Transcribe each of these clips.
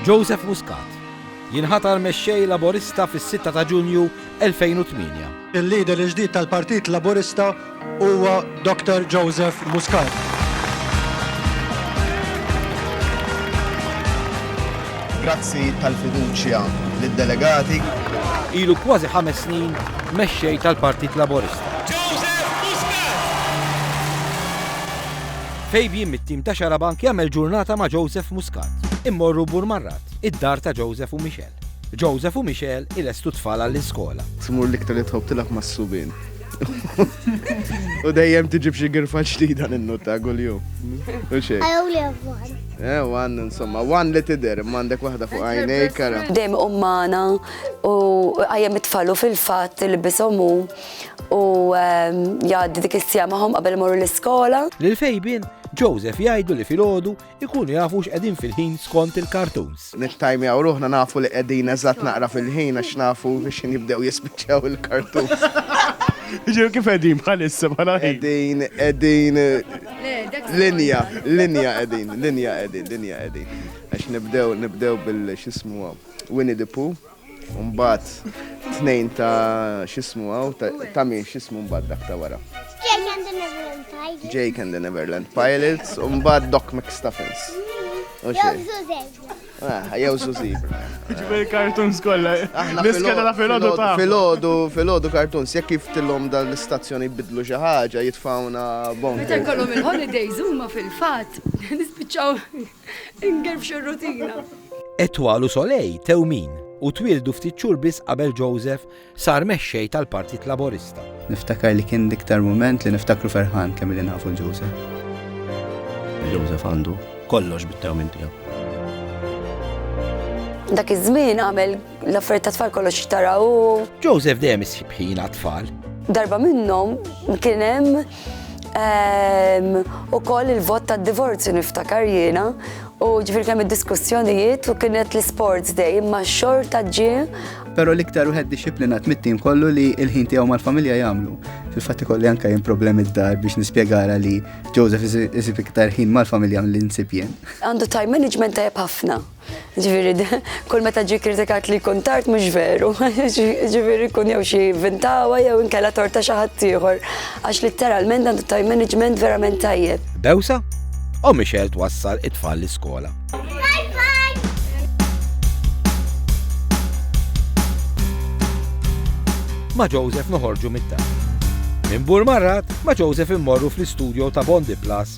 Joseph Muscat jinħatar Mexxej Laburista fis-6 ta' Ġunju 2008. Il-Leader il-ġdid tal-Partit Laburista huwa Dr. Joseph Muscat. Grazzi tal-fiduċja lid-delegati. Ilu kważi ħames snin Mexxej tal-Partit Laburista. Fabian mit-tim ta' Xarabank jagħmel ġurnata ma' Joseph Muscat. Immorru Bur Marrat, id-dar ta' Joseph u Michelle. Joseph u Michelle ilestu t-tfal għall-iskola. Tmur l-iktar li tħobb tilgħab mas-subien. U dejjem tiġi b'xi girfa ġdida ninnota kuljum. U xejn. I only have one. Eh, one, insomma, one li tidher, imma għandek waħda fuq għajnejk, ara. Dejjem iqum magħna u iqajjem it-tfal u fil-fatt ilbishom hu. u ehm, jgħaddi dik is-sija magħhom qabel imorru l-iskola. Lil Fejbin, Joseph jgħidu li filgħodu ikunu jafu x'qegħdin fil-ħin skont il-cartoons. Nittajmjaw ruħna nafu li qegħdin eżatt naqra fil-ħin għax nafu biex jibdew jispiċċaw il-cartoons. Ġew kif qegħdin bħalissa bħala qegħdin qegħdin linja, linja qegħdin, linja qegħdin, linja qegħdin. Għax nibdew nibdew bil-xismu Winnie the Pooh. Mbagħad tnejn ta' x'ismu hawn ta' min x'ismu mbagħad dak ta' wara. Jake and the Neverland Pirates. Jake and the Neverland Pirates u mbagħad Doc McStuffins. Ah, jew Zuzibra. Ġbir kartuns kollha. Niskeda la filodu ta' filodu, filodu kartuns, jekk kif tillhom dan l-istazzjoni bidlu xi ħaġa jitfawna bon. Meta jkollhom il-holidays huma fil-fatt nispiċċaw Ingerfxu r-rutina. Etoile u Soleil tew min u twieldu ftit xhur biss qabel Joseph sar mexxej tal-Partit Laburista. Niftakar li kien l-iktar mument li niftakru ferħan kemm illi nafu lil Joseph. Joseph għandu kollox bit-tewmin tiegħu. Dak iż-żmien għamel l-affarijiet tat-tfal kollox xtara hu. Joseph dejjem isib ħin għat-tfal. Darba minnhom kien hemm U koll il-vot ta' divorzju niftakar jiena u ġifir kemm id-diskussjonijiet u kienet l-sports day imma xorta ġie. Pero l-iktar uħed disciplinat mit-tim kollu li il-ħin tiegħu mal-familja jagħmlu. Fil-fatti kolli anka jien problemi d-dar biex nispjegara li Joseph isib iktar ħin mal-familja li nsib jien. Għandu time management tajjeb ħafna. Ġifieri kull meta ġie kritikat li jkun tard mhux veru. Ġifieri jkun jew xi vintawha jew inkella tort ta' xi ħadd ieħor għax litteralment għandu time management verament tajjeb. Bewsa? O Michelle twassal it-tfal l-iskola. Ma' Joseph noħorġu mit-tagħlim. Minn Bur Marrat, ma' Joseph immorru fl-istudio ta' Bondi Plus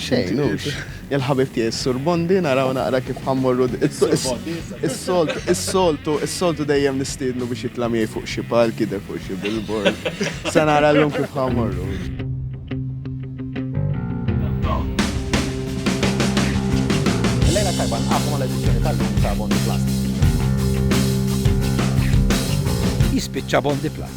Xejn, hux. Il-ħabib tiegħi s-Sur Bondi naraw naqra kif ħammorru is-soltu, is-soltu, is-soltu dejjem nistiednu biex jitla' miegħi fuq xi palk jidher fuq xi billboard. Se nara llum kif ħammorru. Lejla tajba nqafu mal-edizzjoni tal-lum ta' Bondi Plus. Jispiċċa Bondi Plus.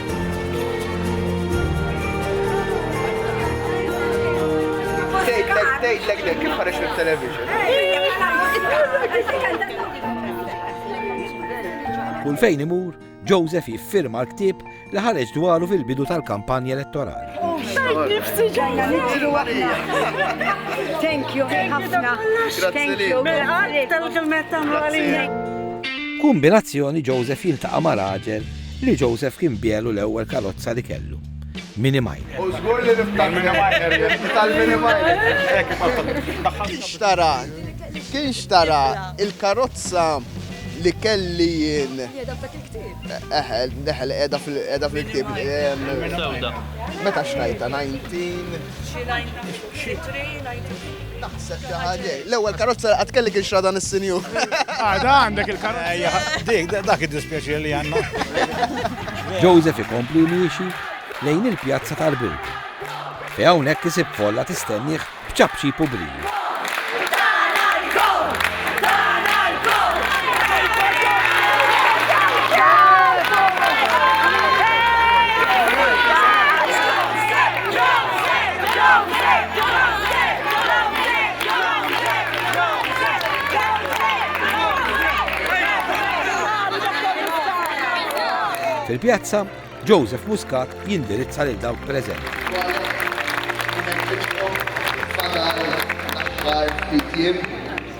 Tgħidlek dek kif ħareġ mit-television. Kull fejn imur, Joseph jiffirma l-ktib li ħareġ dwaru fil-bidu tal-kampanja elettorali. Nifsi ġajna nitru għahna. Thank you, ħafna. Thank you. Tal-kelmet Kumbinazzjoni Joseph jiltaqa' ma' raġel li Joseph kien biegħlu l-ewwel karozza li kellu, Mini Minor. U żgur li niftaħ Mini Minor, tal-Mini Minor. Kien xtara, kien xtara il-karozza li kelli jien. Jeda f'dak il-ktib. Eħel, eħel, edha fil-ktib. Meta xtajta, 19? Naħseb xi ħaġa. L-ewwel karozza qatt kelli kien xra dan is-sinjur. Għada għandek il-karozza. Dik dak id-dispjaċir li għandna. Joseph ikompli miexi lejn il-pjazza tal-Bult. Fi hawnhekk isib folla tistennih b'ċapċi publiju. Fil-pjazza, Joseph Muscat jindirizza lil dawk preżenti. Fadal l-aħħar ftit jiem.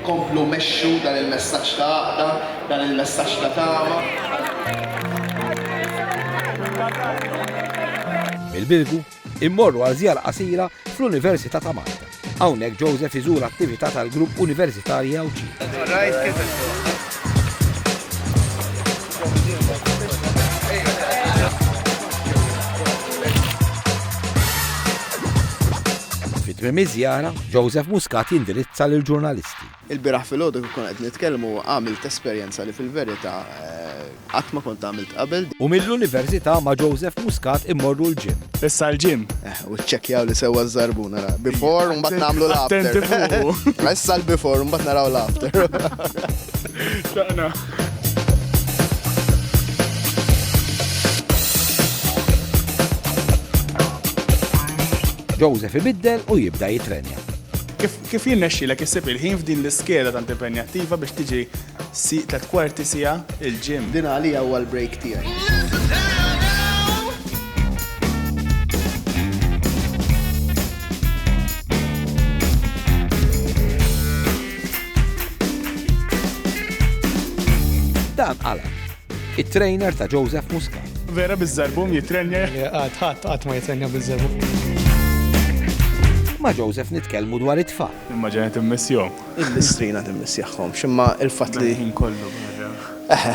Komplu mexxu dan il-messaġġ ta' għaqda, dan il-messaġġ ta' tama. Mill-Birgu, immorru għal żjara qasira fl-Università ta' Malta. Hawnhekk Joseph iżur attività tal-Grupp Universitarji Għawdxin. Fitmim iż-żjara, Joseph Muscat jindirizza lil ġurnalisti. Il-biraħ fil-ħodu kif kont qed nitkellmu għamilt esperjenza li fil-verità eh, qatt ma kont għamilt qabel. U mill-università ma' Joseph Muscat immorru l-ġim. Issa l-ġim. Eh, U ċċekkjaw li sewwa żarbu nara. Before mbagħad nagħmlu l-after. Attenti fuq. Issa l-before mbagħad naraw l-after. Joseph ibiddel u jibda jitrenja. Kif jinnexxilek issib il-ħin f'din l-iskeda tant impenjattiva biex tiġi Sieq tliet kwarti siegħa il-gym. Din għalija huwa l-break tiegħi. Dan għala. It-trainer ta' Joseph Muska. Vera bizzarbum jitrenja. Għad, għad, għad ma jitrenja bizzarbum. Ma' Joseph nitkelmu dwar it-tfal. Imma ġenet immissjom. Il-listrina din missjaħhomx, imma il-fatt li. Mal-ħin kollu b'mira. Eħe,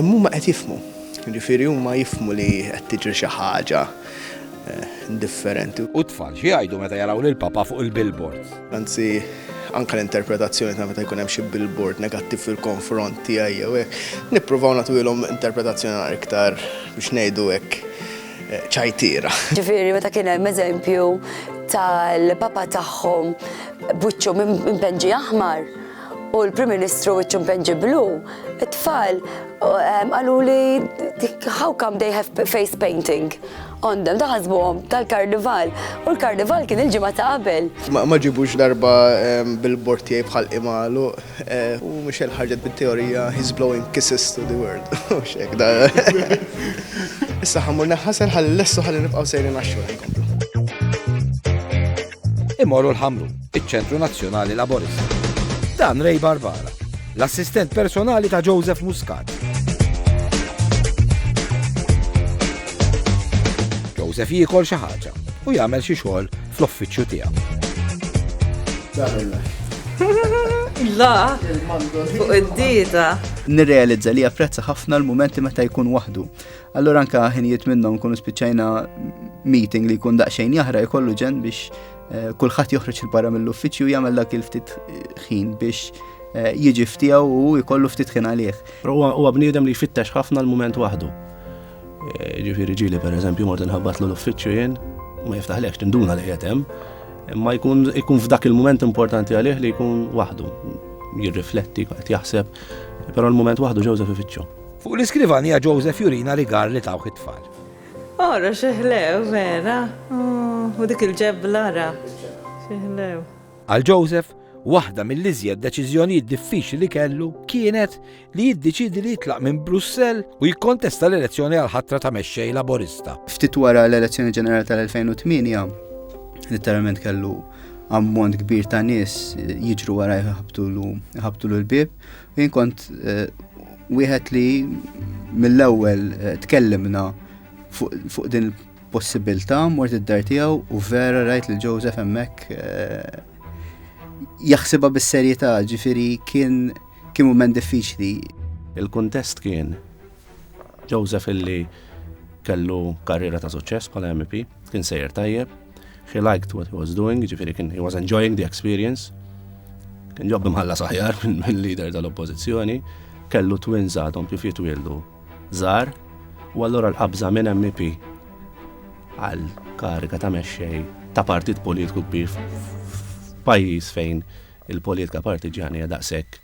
imma huma qed jifhmu. Jiġifieri huma jifhmu li qed tiġri xi ħaġa differenti. U t-tfal xi jgħidu meta jaraw lill-Papa fuq il-billboards? Anzi, anke l-interpretazzjoni ta' meta jkun hemm xi billboard negattiv fil-konfront tiegħi jew hekk, nippruvaw nagħtuhilhom interpretazzjoni iktar biex ngħidu hekk ċajtiera. Ġifieri meta kien hemm eżempju tal-Papa tagħhom b'wiċċu mpenġi aħmar u l-Prim Ministru wiċċu mpenġi blu, it-tfal qalu li how come they have face painting on them, daħasbuhom tal-karnival u l-karnival kien il-ġimgħa ta' qabel. Ma ġibux darba bil-bortijaj bħal imalu. U Michelle ħarġet bit-teorija he's blowing kisses to the world. Mhux hekk da. Issa ħammur neħħasel ħalli lessu ħalli nibqgħu sejrin għax-xogħol inkomplu. Imorru l-ħamru, iċ-Ċentru Nazzjonali Laborista. Dan Ray Barbara, l-assistent personali ta' Joseph Muscat. Joseph jiekol xi ħaġa u jagħmel xi xogħol fl-offiċċju tiegħu. La, fuq id-dita. Nirrealizza li japprezza ħafna l-momenti meta jkun waħdu. Allura anka ħinijiet minnhom kunu spiċċajna meeting li jkun daqsxejn jahra jkollu ġen biex eh, kulħadd joħroġ il-barra mill-uffiċċju jagħmel dak il-ftit ħin biex eh, jiġi ftijaw u jkollu ftit ħin għalih. Huwa bniedem li jfittex ħafna l-moment waħdu. Ġifieri ġieli pereżempju mort inħabbatlu l-uffiċċju jien, ma jiftaħlekx tinduna li qiegħed hemm, imma jkun ikun f'dak il-mument importanti għalih li jkun waħdu, jirrifletti, qed jaħseb, però l-mument waħdu Joseph ifittxu. Fuq l-iskrivanija Joseph jurina rigar li tawh it-tfal. Ara xeħlew vera, u dik il-ġebla ara xeħlew. Għal Joseph, waħda mill-iżjed deċiżjonijiet diffiċli li kellu kienet li jiddeċiedi li jitlaq minn Brussell u jikkontesta l-elezzjoni għal ħatra ta' mexxej Laburista. Ftit wara l-elezzjoni ġenerali tal-2008, letteralment kellu ammont kbir ta' nies jiġru wara jħabtu l-bib, u jien kont eh, wieħed li mill-ewwel eh, tkellimna fuq din il-possibilità mort id-dar tiegħu u vera rajt li Joseph hemmhekk eh, jaħsibha bis-serjetà, ġifieri kien Kien mument diffiċli. Il-kuntest kien Joseph illi kellu karriera ta' suċċess bħala MEP, kien sejjer tajjeb, he liked what he was doing, ġifieri kien he was enjoying the experience, kien ġobbi mħalla saħjar mill-leader tal-oppożizzjoni, kellu twins għadhom kif jitwieldu żgħar, u allura l-qabża minn MEP għal kariga ta' mexxej ta' partit politiku kbir f'pajjiż fejn il-politika partiġġjana hija daqshekk,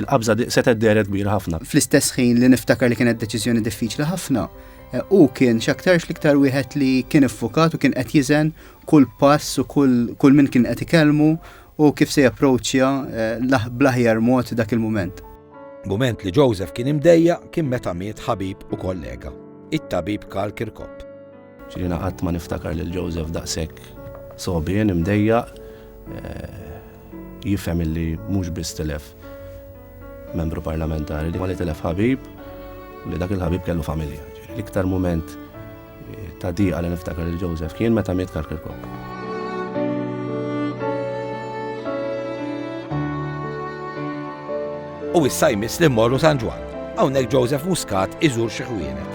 il-qabża setgħet dehret kbira ħafna. Fl-istess ħin li niftakar li kienet deċiżjoni diffiċli ħafna, hu kien x'aktarx l-iktar wieħed li kien iffukat u kien qed jiżen kull pass u kull min kien qed ikellmu u kif se japproċċja bl-aħjar mod dak il-mument. Mument li Joseph kien imdejjaq kien meta miet ħabib u kollega, it-tabib Karl Kirkop. Ġiena qatt ma niftakar lil Joseph daqshekk sogħbien, imdejjaq, jifhem illi mhux biss tilef Membru Parlamentari, imma li tilef ħabib u li dak il-ħabib kellu familja. L-iktar mument ta' diqa li niftakar lil Joseph kien meta miet Karl Kirkop. U issa jmiss li mmorru San Ġwann. Hawnhekk Joseph Muscat iżur xi ħwienet.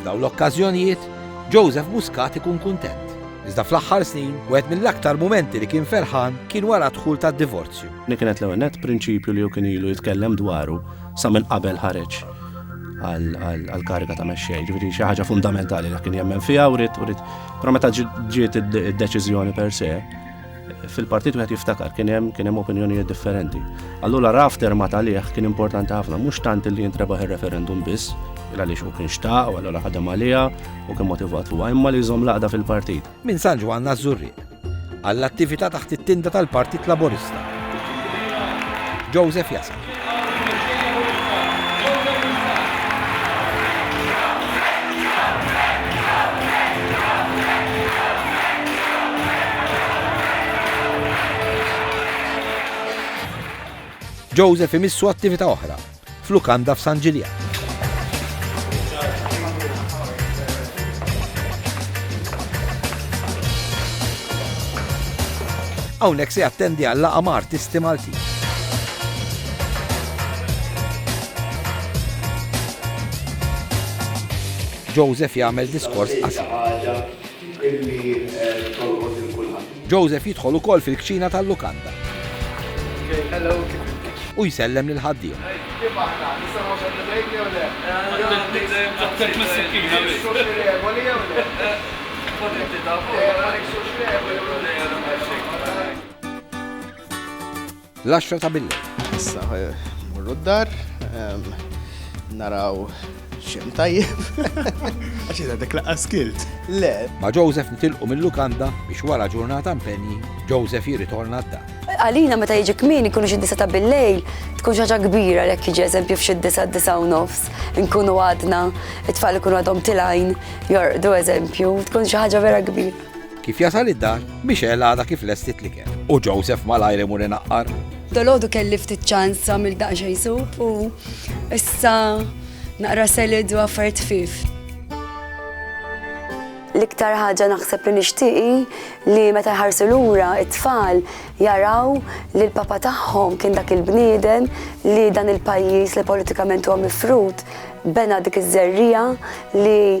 F'dawn l-okkażjonijiet, Joseph Muscat ikun kuntent Iżda fl-aħħar snin, wieħed mill-aktar mumenti li kien ferħan kien wara d-dħul tad-divorzju. Li kienet l-ewwel nett prinċipju li hu kien ilu jitkellem dwaru sa minn qabel ħareġ għall-kariga ta' mexxej. Ġifieri xi ħaġa fundamentali li kien jemmen fiha u rid u rid. Però meta ġiet id-deċiżjoni per se, fil-partit wieħed jiftakar kien hemm kien hemm opinjonijiet differenti. Allura raf terma talih kien importanti ħafna, mhux tant li jintrebaħ ir-referendum biss, il għaliex u kien xtaq, u allura ħadem għalija u kien motivat fuq imma li jżomm laqda fil-partit. Minn San Ġwann Azzurri, għall-attività taħt it-tinda tal-Partit Laburista. Joseph Jasal. Jilqgħu lill-Mexxejja Municipali, Joseph Muscat. Joseph imissu attività oħra f'lukanda f'San Ġiljan. Hawnhekk se jattendi għal laqgħa ma' artisti Maltin. Joseph jagħmel diskors qasir. Joseph jidħol ukoll fil-kċina tal-lukanda. U jsellem lil ħaddiem. L-għaxra ta' billejl. Issa morru d-dar, naraw xem tajjeb. Għaxi da dik laqqa skilt. Le. Ma Joseph nitilqu mill-lukanda biex wara ġurnata mpenji, Joseph jirritorna d-dar. Għalina meta jiġi kmin ikunu xi disa ta' billejl, tkun xaġa kbira l-ek jiġi eżempju f'xi disa disa u nofs, nkunu għadna, it-tfal ikunu għadhom tilajn, jorqdu eżempju, tkun xi ħaġa vera kbira. Kif jasal id-dar, Michelle għadha kif lestiet l-ikel u Joseph malajr imur inaqqar. Dalgħodu kelli ftit ċans għamil daqsxejn sup u issa naqra selid u affarijiet ħfief. L-iktar ħaġa naħseb li nixtieqi li meta jħarsu lura it-tfal jaraw li l-papa tagħhom kien dak il-bniedem li dan il-pajjiż li politikament huwa mifrud bena dik iż-żerrija li